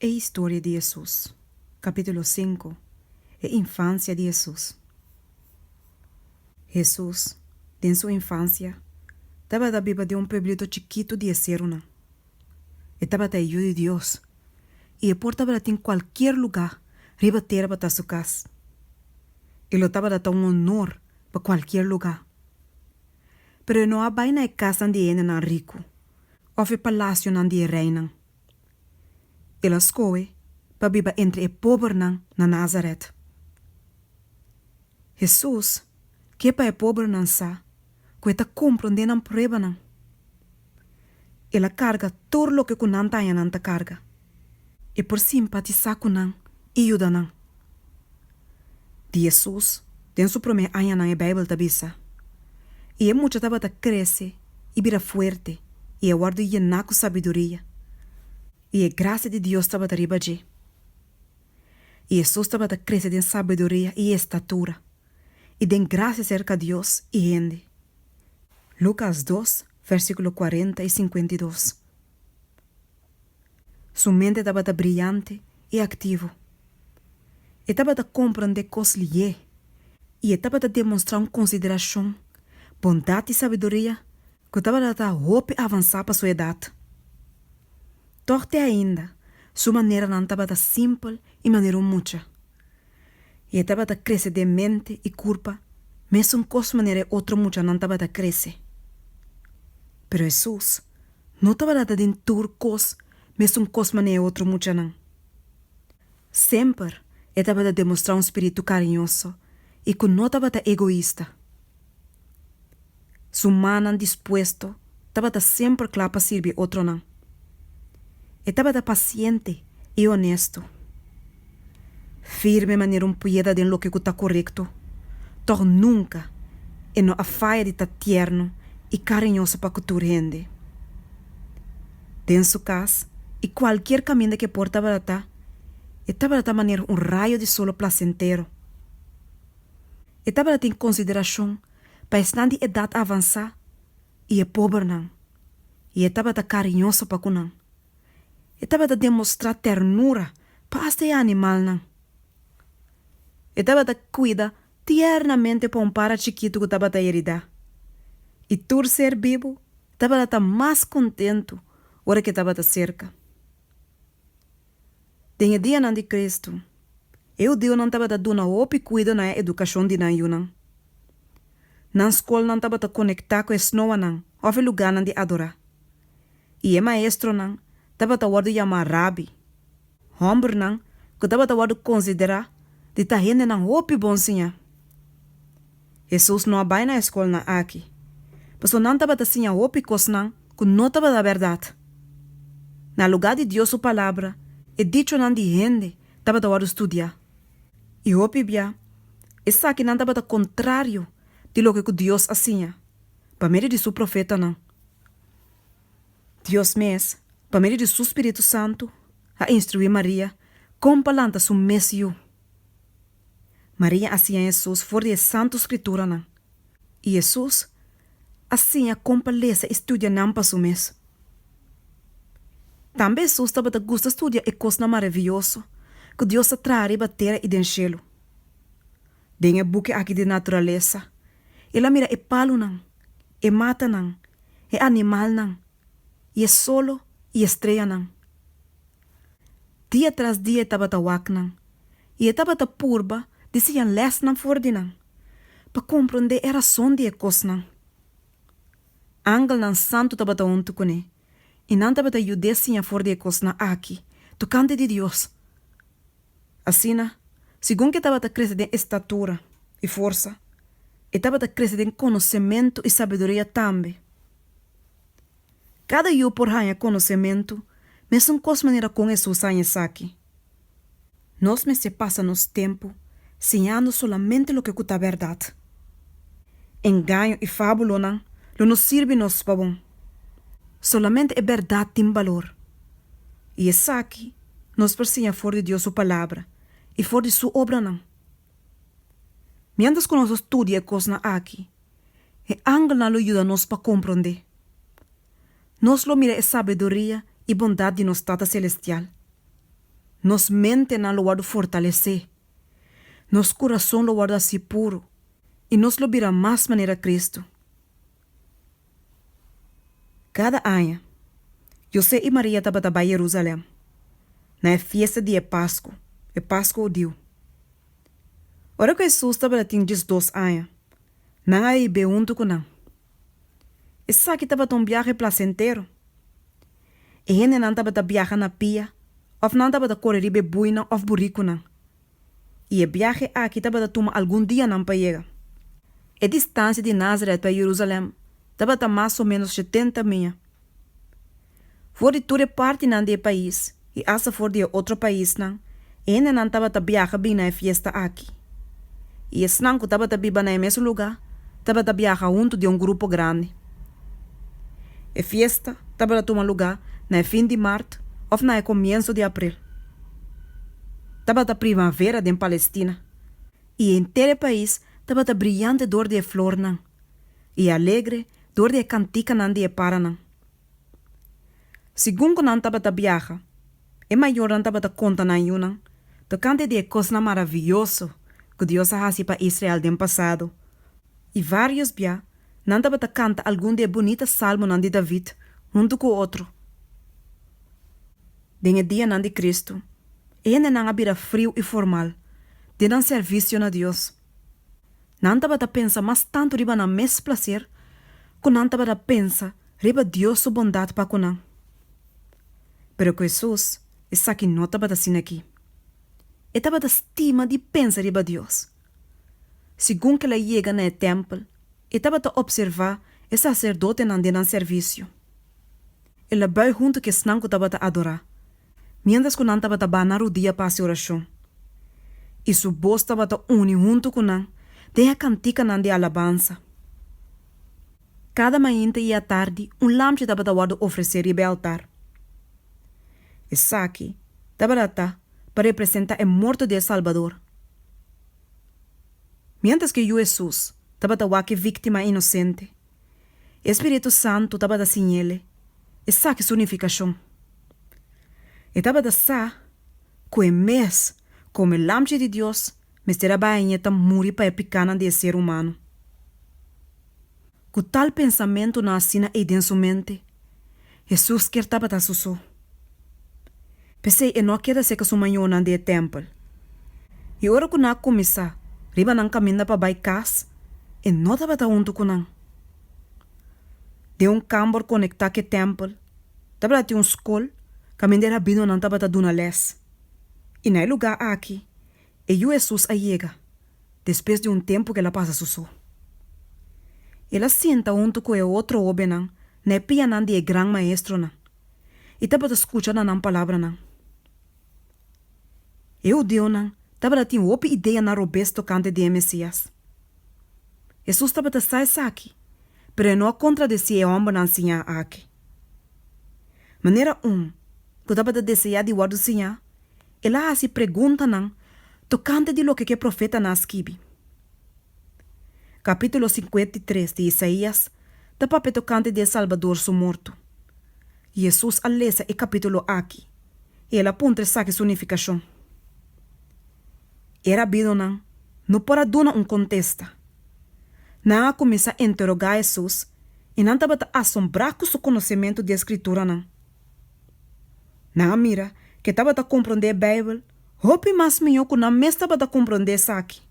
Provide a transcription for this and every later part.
E historia di Hesus. Capítulo sinku, E infansia di Hesus. Hesus, den su infansia, tabata biba den un pueblito chikitu di eserunan. E tabata e Yu di Dios i e por tabata tin kualkier lugá riba tera pa ta su kas. E lo tabata ta un onor pa kualkier lugá. Pero e no a bai na e kasnan di hendenan riku. òf e palasionan di e reinan. El a skohe pa biba entre e pobernan na Nazaret. Hesus ke pa e pobernan sa ku e ta komprondé nan pruebanan. El a karga tur loke ku nan tañanan ta karga. E por simpatisá ku nan i yuda nan. Di Hesus den su promé añanan e Beibel ta bisa, I e mucha tabata krese i bira fuerte i a wòrdu yená ku sabiduria, i e grasia di Dios tabata riba dje. I Hesus tabata krese den sabiduria i estatura, i den grasia serka Dios i hende. Lukas dos, vèrsíkulo kuarenta i sinkuenta i dos. Su mente tabata briante i aktivo. E tabata komprondé kos lié i e tabata demonstrá un konsiderashon, bondat i sabiduria ku tabata ta hopi avansá pa su edat. Tòg te ainda, su maneranan tabata simpel i manera un mucha, i e tabata krese den mente i kurpa mesun kos manera e otro muchanan tabata krese. Pero Hesus no tabata ta den tur kos mesun kos manera e otro muchanan. Semper e tabata demostrá un spiritu kariñoso i ku no tabata egoista. Su mannan dispuesto tabata semper kla pa sirbi otronan. E tabata pasiente i onesto. firme manera un pueda den loke ku ta korekto, tòg nunka e no a faya di ta tierno i kariñoso pa ku tur hende. Den su kas i kualkier kaminda ku e por tabaratá, e tabaratá manera un rayo di solo plasentero. E tabata tin konsiderashon pa esnan di edat avansá i e pobernan, i e tabata kariñoso pa ku nan. E tabata demostrá ternura pa asta e animalnan. E tabata kuida tiernamente pa un para chikitu ku tabata heridá. I tur ser bibu tabata ta mas kontentu ora ke tabata serka. Den e dianan di Kristu, e hudiunan tabata duna hopi kuido na e edukashon di nan yunan. Nan skolnan tabata konektá ku e snoanan òf e lugánan di adorá. i e maestronan tabata wòrdu yamá rabi. Hòmbernan ku tabata wòrdu konsiderá di ta hendenan hopi bon siña. Hesus no a bai na e skolnan aki, pasobra nan tabata siña hopi kosnan ku no tabata bèrdat. Na lugá di Dios su Palabra, e dichonan di hende tabata wòrdu studiá. I hopi bia, esakinan tabata kontrario di loke ku Dios a siña pa medio di su profetanan. Dios mes, pa medio di su spiritu santu, a instruí Maria kon pa lanta su mes yu. Maria a siña Hesus for di e Santu Skrituranan, i Hesus a siña kon pa lesa i studia nan pa su mes. Tambe Hesus tabata gusta studia e kosnan maravioso ku Dios a traha riba tera i den shelu. Den e buki aki di naturalesa, el a mira e palunan, e matanan, e animalnan i e solo i e streanan. Dia tras dia e tabata waknan i e tabata purba di siña lèsnan for di nan pa komprondé e rason di e kosnan. Angelnan santu tabata huntu kuné i nan tabata yud'é siña for di e kosnan aki, tokante di Dios. Asina, segun ku e tabata krese den estatura i forsa, e tabata krese den konosementu i sabiduria tambe. Kada yu por haña konosementu, mesun kos manera kon Hesus haña esaki. Nos mester pasa nos tempu siñando solamente loke ku ta bèrdat. Engaño i fábulonan lo no sirbi nos pa bon. Solamente e bèrdat tin balor. I esaki nos por siña for di Dios su Palabra i for di su obranan. Miéntras ku nos a studia e kosnan aki, e angelnan lo yuda nos pa komprondé. Nos lo mira e sabiduria i bondat di nos Tata selestial. Nos mentenan lo wòrdu fortalesé, nos kurason lo wòrdu así puru i nos lo bira mas manera Kristu. Kada aña, José i Maria tabata bai Jerusalèm na e fiesta di e Pasku, e Pasku hudiu. Ora ku Hesus tabata tin diesdos aña, nan a hib'é huntu ku nan. Esaki tabata un biahe plasentero. E hendenan tabata biaha na pia òf nan tabata kore riba e buinan òf burikunan. I e biahe aki tabata tuma algun dianan pa yega. E distansia di Nazaret pa e Yerusalèm tabata mas o ménos shetenta mia. For di tur e partinan di e pais i asta for di e otro paisnan, E hendenan tabata biaha bin na e fiesta aki, i esnan ku tabata biba na e mes lugá tabata biaha huntu den un grupo grandi. E fiesta tabata tuma lugá na e fin di mart òf na e komienso di april. Tabata primavera den Palestina, i henter e pais tabata briante dor di e flornan i alegre dor di e kantikanan di e paranan. Segun ku nan tabata biaha, e mayornan tabata konta nan yunan tokante di e kosnan maravioso ku Dios a hasi pa Israel den pasado, i vários bia nan tabata kanta algun di e bunita salmonan di David huntu ku otro. Den e dianan di Kristu, e hendenan a bira friu i formal den nan servisio na Dios. Nan tabata pensa mas tantu riba nan mes placer cu nan tabata pensa riba Dios su bondad pa cu nan. Pero cu Hesus esaki no tabata asina aki. E tabata stima di pensa riba Dios. Segun kila e yega na e tempel, e tabata observa e sacerdotenan den nan servicio. El a bai huntu cu esnan cu tabata adora. miéntras ku nan tabata banda rudia pa hasi orashon, i su bos tabata uni huntu ku nan den e kantikanan di alabansa. Kada mainta i atardi un lamchi tabata wòrdu ofresé riba e altar. Esaki tabata ta pa representá e morto di e Salbador. Miéntras ku e Yu Hesus tabata wak e víktima inosente, E spiritu santu tabata siñele, esaki su nifikashon. E tabata sa ku e mes komo e Lamchi di Dios mester a baña ta muri pa e pikánan di e ser humano. Ku tal pensamentunan asina ei den su mente, Hesus kier tabata su so. P'esei e no a keda cerca su mañonan di e tempel. I ora cu nan a cuminsa riba nan caminda pa bai cas, e no tabata hunto cu nan. Den un cambor conecta cu e tempel tabata tin un scol caminda e rabinonan tabata duna les. I na e lugar aki E yu Hesus a yega, despues di un tempu ku el a pasa su so. El a sinta huntu ku e otro hóbennan na e pianan di e gran maestronan i tabata skucha na nan palabranan. E hudeonan tabata tin hopi ideanan robes tokante di e Mesias. Hesus tabata sa esaki, pero e no a kontradecí e hòmbernan siñá aki. Manera un ku tabata deseá di wòrdu siñá, El a hasi preguntanan tokante di loke ku e profetanan a skibi. Kapítulo sinkenta i tres di Isaías ta papia tokante di e Salbador su morto. Hesus a lesa e kapítulo aki i el a puntra esaki su nifikashon. E rabinonan no por a duna un kontesta. Nan a kuminsá interogá Hesus i nan tabata asombrá ku su konosementu di e Skrituranan. Nan a mira ke tabata komprondé Beibel hopi mas mihó ku nan mes tabata komprondé esaki.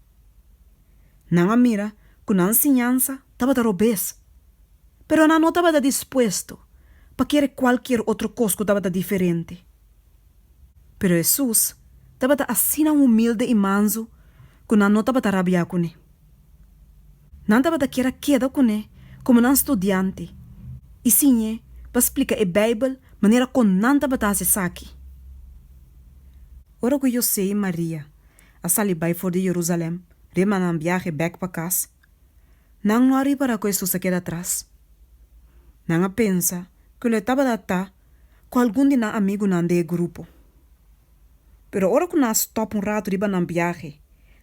Nan a mira ku nan enseñansa tabata robes, pero nan no tabata dispuesto pa kere kualkier otro kos ku tabata diferente. Pero Hesus tabata asina humilde i mansu ku nan no tabata rabiá kuné. Nan tabata kier a keda kuné komo nan studiante i siñ'é pa splika e Beibel manera kon nan tabata hasi esaki. Ora ku José i Maria a sali bai for di Jerusalèm riba nan biahe bèk pa kas, nan no a ripará ku Hesus a keda atras. Nan a pensa ku lo e tabata ta ku algun di nan amigunan den e grupo. Pero ora cu nan a stop un rato riba nan biahe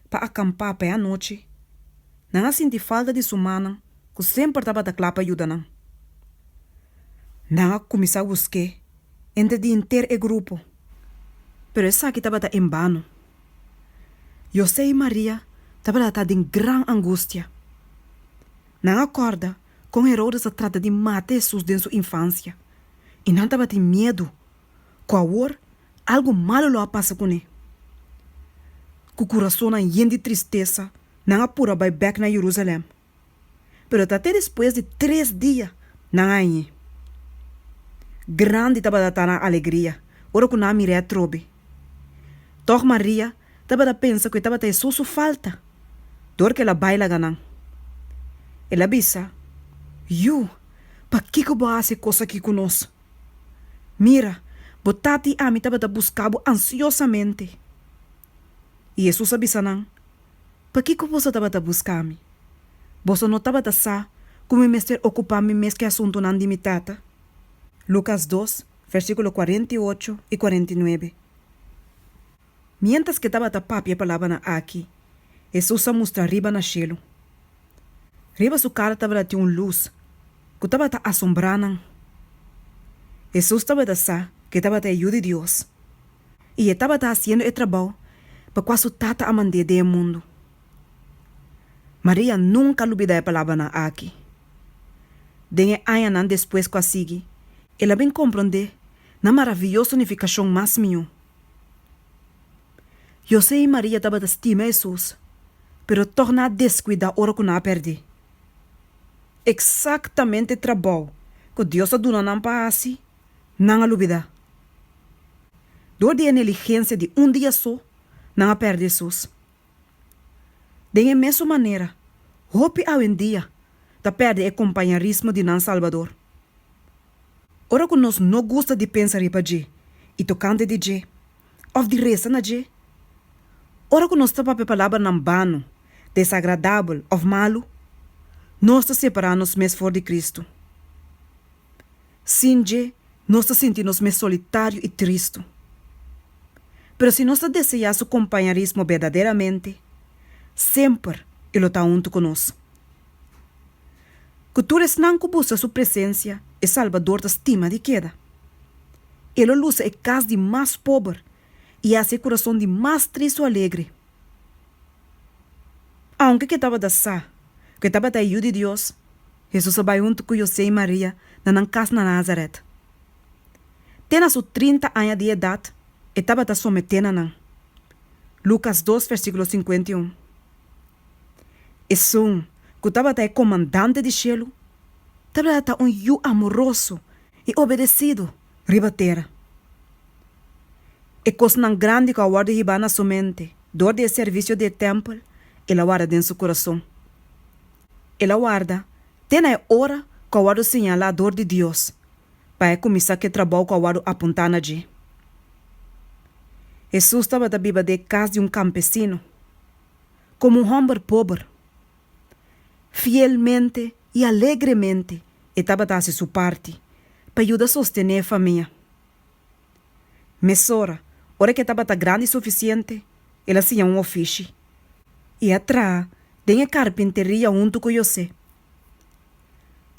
pa a campa p'e anochi, nan a sinti falta di su mannan cu semper tabata cla pa yuda nan. Nan a cuminsa busque entre di henter e grupo, pero esaki tabata en bano. Jose y Maria tabata ta den gran angustia. Nan a corda con Herodes a trata di mata Jesus den su infancia y nan tabatin miedu. ku awor algu malu lo a pasa kuné. Ku kurasonnan yen di tristesa, nan a pura bai bèk na Yerusalèm. Pero ta te despues di tres dia nan a añ'é. Grandi tabata ta nan alegria ora ku nan a mir'é atrobe. Tòg Maria tabata pensa ku e tabata e so su falta, dor ku el a bai laga nan. El a bisa, Yu, pakiko bo a hasi e kos akí ku nos? Mira, bo tata i ami tabata buska bo ansiosamente. I Hesus a bisa nan, Pakiko boso tabata buska mi? Boso no tabata sa ku mi mester okupá mi mes ku e asuntunan di mi Tata? Lukas dos, versíkulo kuarenta i ocho i kuarenta i nuebe. Miéntras ke tabata papia e palabranan aki, Hesus a mustra riba na shelu. Riba su kara tabata tin un lus ku tabata asombrá nan. Hesus tabata sa ke tabata e Yu di Dios i e tabata hasiendo e trabou pa kua su Tata a mand'é den e mundu. Maria nunka a lubidá e palabranan aki. Den e añanan despues ku a sigui, el a bin komprondé nan maraviyoso nifikashon mas mió. José i Maria tabata stima Hesus, pero tòg nan a deskuidá ora ku nan a pèrdí. Eksaktamente e trabou ku Dios a duna nan pa hasi, nan a lubidá. Dor di e neligensia di un dia so, nan a pèrdí Hesus. Den e mesun manera, hopi awendia ta pèrdè e kompañarismo di nan Salbador. Ora ku nos no gusta di pensa riba dje i tokante di dje òf di resa na dje, ora ku nos ta papia palabranan bano, desagradabel òf malu, nos ta separá nos mes for di Kristu. Sin dje, nos ta sinti nos mes solitario i tristu. Pero si nos ta deseá su kompañerismo berdaderamente, semper e lo ta huntu ku nos. Ku tur esnan ku buska su presensia, e Salbador ta stima di keda. E lo lusa e kas di mas pober i hasi e kurason di mas tristu alegre. Aunke ke tabata sa ku e tabata e Yu di Dios, Hesus a bai huntu ku José i Maria na nan kas na Názarèt. Te na su trinta aña di edat e tabata someté na nan. Lukas dos versíkulo sinkuenta i un. Esun, ku tabata e Komandante di shelu, tabata ta un yu amoroso i obedesidu riba tera. E kosnan grandi ku a wòrdu hibá na su mente dor di e servisio di e tèmpel, el a warda den su kurason. El a warda te na e ora ku a wòrdu señalá dor di Dios pa e kuminsá ku e trabou ku a wòrdu apuntá na dje. Hesus tabata biba den e kas di un kampesino, komo un hòmber pober. Fielmente i alegremente e tabata hasi su parti pa yuda sostené e famia. Mesora, ora ke tabata grandi sufisiente, el a siña un ofishi, i a traha den e karpinteria huntu ku José.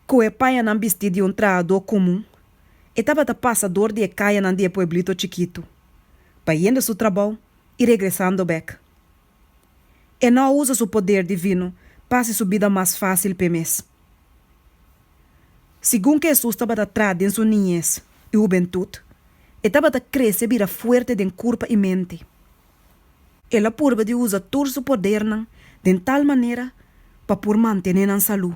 Ku e payanan bisti di un trahadó kumun, e tabata pasa dor di e kayanan di e pueblito chikitu, bayendo su trabou i regresando bèk. E no usa su poder divino pa hasi su bida mas fásil p'e mes. Segun ku Hesus tabata trat den su niñes i hubentut, e tabata krese bira fuerte den kurpa i mente. El a purba di usa tur su podernan den tal manera pa por mantené nan salú,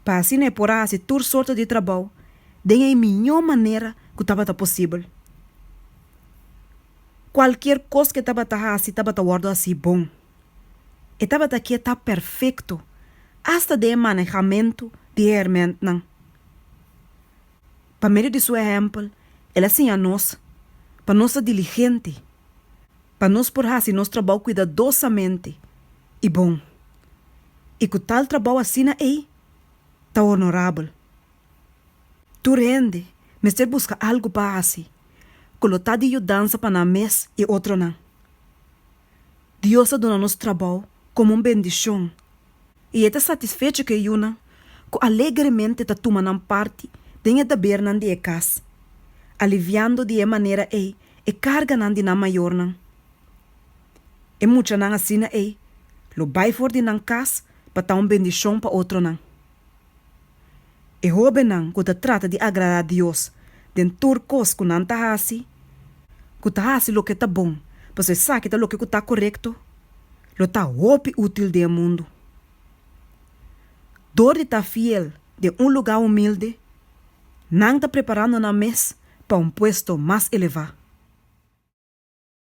pa asina e por a hasi tur sorto di trabou den e miñó manera ku tabata posibel. Kualkier kos ku e tabata hasi tabata wòrdu hasi bon. E tabata ke ta perfekto, asta den e manehamentu di e hèrmèntnan. Pa medio di su ehèmpel, el a siña nos pa nos ta diligente pa nos por hasi nos trabou kuidadosamente i bon, i ku tal trabou asina ei ta onorabel. Tur hende mester buska algu pa hasi ku lo ta di yudansa pa nan mes i otronan. Dios a duna nos trabou komo un bendishon, i e ta satisfecho ku e yunan ku alegremente ta tuma nan parti den e debernan di e kas, aliviando di e manera ei e karganan di nan mayornan. E muchanan asina ei lo bai for di nan kas pa ta un bendishon pa otronan. E hóbennan ku ta trata di agradá Dios den tur kos ku nan ta hasi, ku ta hasi loke ta bon pasobra esaki ta loke ku ta korekto, lo ta hopi útil den e mundu. Dor di ta fiel den un lugá humilde, nan ta preparando nan mes pa un puesto mas elevá.